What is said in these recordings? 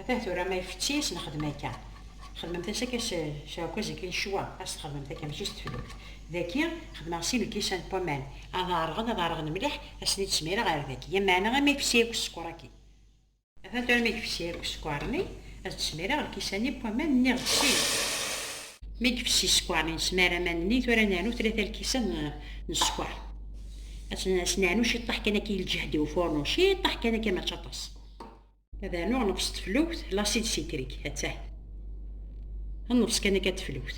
Atan tura ma ifetti as nexdem akka. Xedmemt as akka s ɛukkaz akka yecwa as txedmemt akka mačči s teflukt. Daki xedmeɣ sin lkisan n waman ad ɛerɣen ad ɛerɣen mliḥ assen i d-smireɣ ar daki yam meɛna ama ifessi akk ssekker aki. Atan tura ma ifessi akk ssekker-nni ad d-smireɣ lkisan-nni n waman nniɣ-d sin. Ma ifessi ssekker-nni nesmar aman-nni tura neɛnu tlata lkisan n ssekker ad sen-neɛnu ciṭṭaḥ kan akka i lǧehd i ufurnu ciṭṭaḥ kan akka mačči aṭas. ad anuɣ neqs teflukt lasid sitrik attah nneqs kan akka teflukt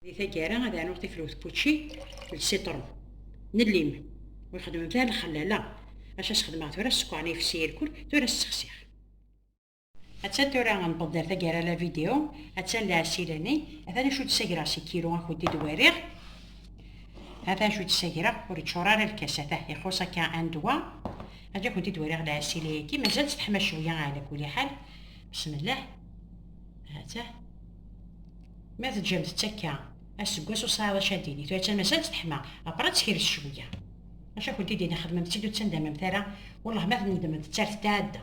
di taggara ad anuɣ tiflukt pucci d sitru n llim ur xedmemt ara lxellala aca sxedmeɣ tura sskeṛ n ifsi irkul tura ssexsiɣ Attan tura n ṭeddar tagara la vidéo, attan la asilani, attan acu d-sagreɣ si kilo akud i d-wariɣ, attan acu d-sagreɣ ur iččur ara lkas, atah ixuṣ akka andwa, aǧa akud i d-wariɣ la asili-agi, mazal teḥma cwiya ala kuli ḥal, bismillah, atah, ma teǧǧamt-tt akka, aseggas ur sɛiḍ acu ad d-tini, tura attan mazal teḥma, après ad tekres cwiya. Maca akud i d-ini xedmemt-tt-id ur ttandamamt ara, wellah ma tnedmemt-tt ar tetɛedda.